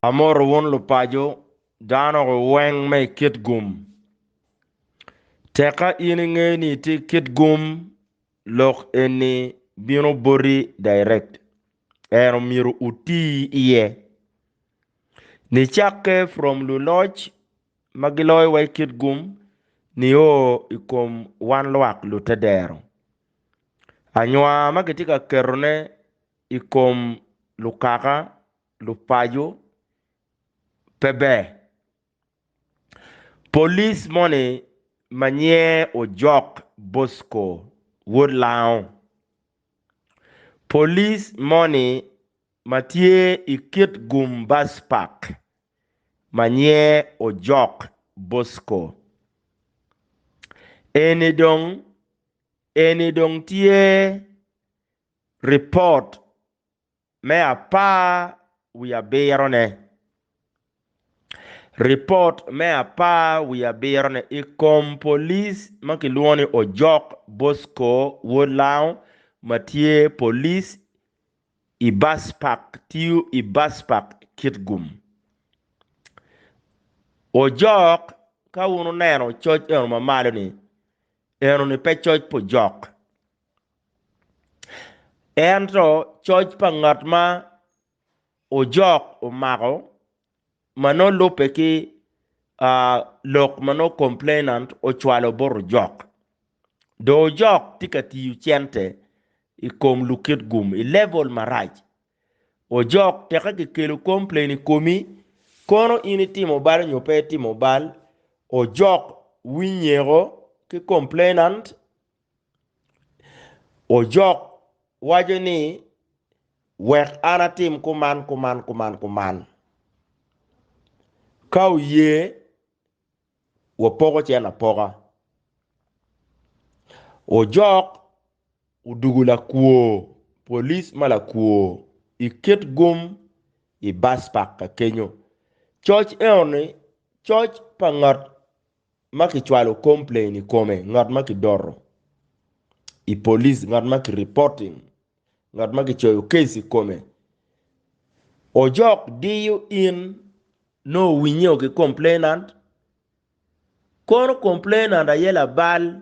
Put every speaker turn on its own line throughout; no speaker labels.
Amoto wun lupaco dano weng me kit gum. Tekka in inge ni itye kit gum lok eni bino boti direct. En omyero uti iye. Nicakke from luloc ma giloyowa i kit gum nio i kom wan lwak lute dero. Anywa ma kitye ka ketone i kom lukaka, lupaco, pe ber. Polis moni ma nyinge Ojok Bosco wod Lango, polis moni ma tye i kit gum Bus Park ma nyiye Ojok Bosco. Eni dong eni dong tye ripot me apar wiye abirone. Ripot me apar wiye abirone i kom polic ma kilwongo ni Ojok Bosco Wod Lango ma tye polic I bas pak tiyo i bas pak kit gum. Ojok, Ka wun wuneno coc eno ma malo-ni, eno-ni pe coc pa ojok, ento coc pa ngat ma ojok omako ma nongo lubbe ki lok ma nongo complainant ocwalo bot ojok. Dong ojok tye ka tiyo cente i kom lukit gum i level marac. Ojok teke kikelo complain i komi, kono in itimo bal nyo pe itimo bal, ojok winyeko ki complainant Ojok waco ni, Wek an atim kuman kuman kuman kuman. Ka oye, wapoko cen apoka. Ojok odugo lakwo, police ma lakwo i kit gum i bus park ka kenyo. Coc eno ni coc pa ngat. ma kicwalo complain i kome, ngat ma kidoro i police, ngat ma ki reporting, ngat ma kicoyo case i kome, ojok diyo in nongo owinyeo ki complainant, kono complainant aye labal.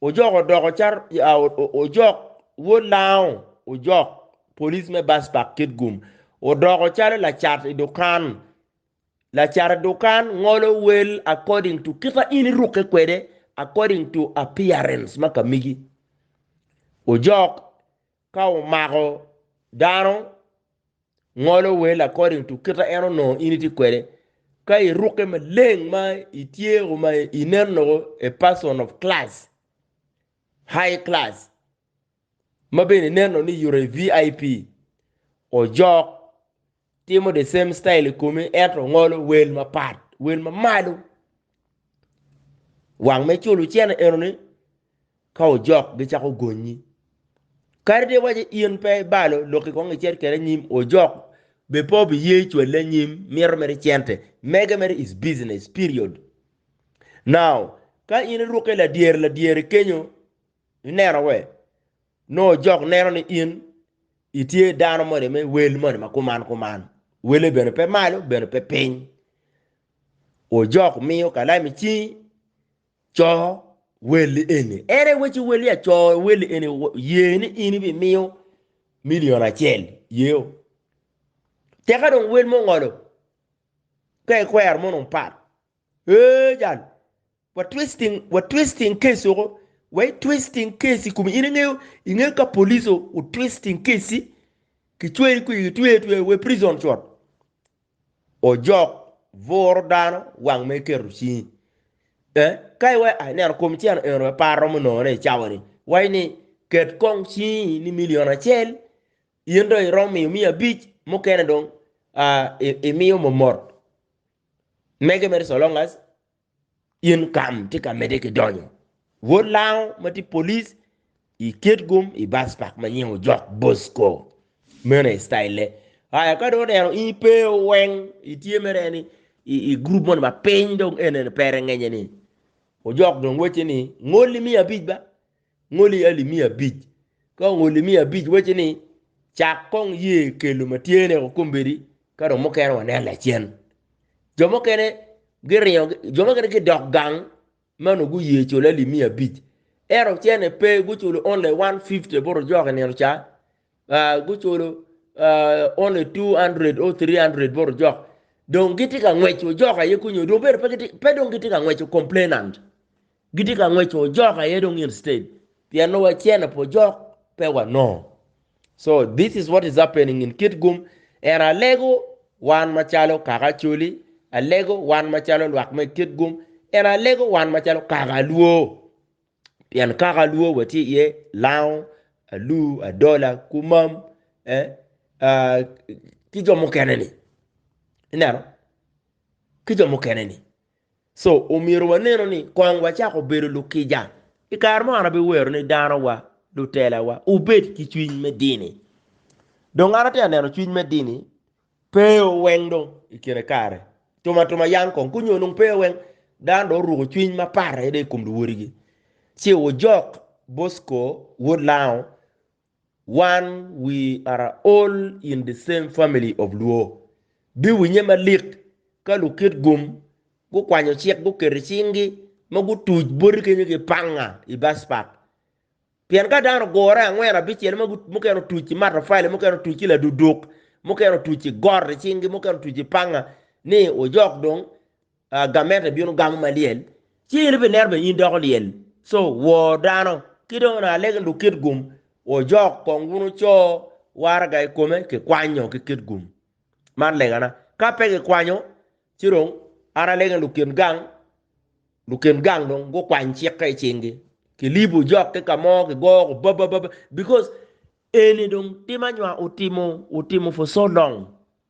Ojok odoko caro Ojok wod Lango Ojok, police me Baspak Kitgum, odoko calo lacat i dukan. Lacat i dukan ngolo wel according to kika in irukke kwede, according to appearance ma ka migi. Ojok ka omako dano ngolo wel according to kit ma en onongo in itye kwede ka iruke maleng ma itye o ma inen nongo a person of class high class ma bene inen nongo ni you're a vip ojok timo the same style i komi ento ngolo wel mapat wel ma malo. Wang me culo cene eno ni ka ojok gi cako gonyi. Kadi ni iwaci in pe ibalo lok i kong icit kede anyim ojok be pe obi ye cwale anyim mito mere cente mege mere is business period. Now ka in iruke ladyere ladyere kenyo ineno we nongo ojok neno ni in itye dano moni me wel moni ma kuman kuman. Wele bene pe malo bene pe piny. Ojok miyo kalam i cingi, coo welli eni. Ere weci welli ya coo welli eni ye ni in ibimiyo milion acel yeo. Teka dong wel mongolo ka ikwero mono pat ee jal Wa twisting wa twisting case oko wa i twisting case i kumi in ingeyo ingeyo ka police o u twisting case i ki cweyi kwi ki twe twe we prison cot ojok buro dano wang me keto cingi eh ka iwe ai neno kom ceno eno we par romo nongo ne i cawa ni wai ni ket kong cingi ni million acel in do irom miyo miya abic mukene dong ah, i- imiyo momot mege mere so long as Income tye ka medde ki donyo. Wod Lango ma tye police i ket gum i bus park ma nyinge ojok Bosco. Meno aye style ne. Aya ka dong oneno in ipe weng itye mere ni i, i group moni ma piny dong en en pere ngenye ni ojok dong wacce ni ngol ni miya abic ba ngoli alip miya abic. Ka ongoli miya abic wacci ni cak kong ye kelo ma tye ne woko kombedi ka dong mukene wanen lacen. Jo mukene giringo jo mukene gidok gang ma onongo guye culo alip miya abic ento cene pe guculo only 150 bot ojok i nino ca ah guculo ah only 200 or 300 bot ojok dong gitye ka ngwec ojok aye kunyu dong bene pe gitye pe dong gitye ka ngwec complainant. Gitye ka ngwec to ojok aye dong instead pien nongo wacene pe ojok pe wanongo so this is what is happening in Kitgum and alego wan macalo kaka Acholi, alego wan macalo lwak me Kitgum and alego wan macalo kaka Luo pien kaka Luo watye iye Lango, Alu, Adola, Kumam eh, ah, ki jo mukene ni ineno ki jo mukene ni. So, omyero wanenu ni kong wacako bedo lukica. I kare mo an abiwero ni danowa, lutelawa, wubed ki cwiny me dini. Dong an atye ka neno cwiny me dini pe weng dong i kine kare. Tuma tuma yam kong kunyo nung pe weng. Dano dong oruko cwiny ma parre dong i kom luwodigi. Ci wujok Bosco, wod Lango, Wan we are all in the same family of Luo. Biwinye malik ka lukit gum gukwanyo cik guketo i cingi ma gutuc boti kenyo ki panga i bus park. Pien ka dano ogure angwen abicel ma mukene otuc ki matafali, mukene otuc ki laduduk, mukene otuc ki got i cingi, mukene otuc ki panga ni ojok dong Gamet ni bino gamo ma lyel, ci in ibineno bene in doko lyel. Co, wor dano, ki dong onongo alege duk kit gum, wojok kong wunu co waraga i kome ki kwanyo ki kit gum. Man legana. Ka pe gikwanyo, ci dong an alege duk kin gang, lukin gang dong gukwany cikke i cingi, kilibo jok ki ka mo, kigoyo ko babababa, because eni dong tim anywa otimo, otimo for so long,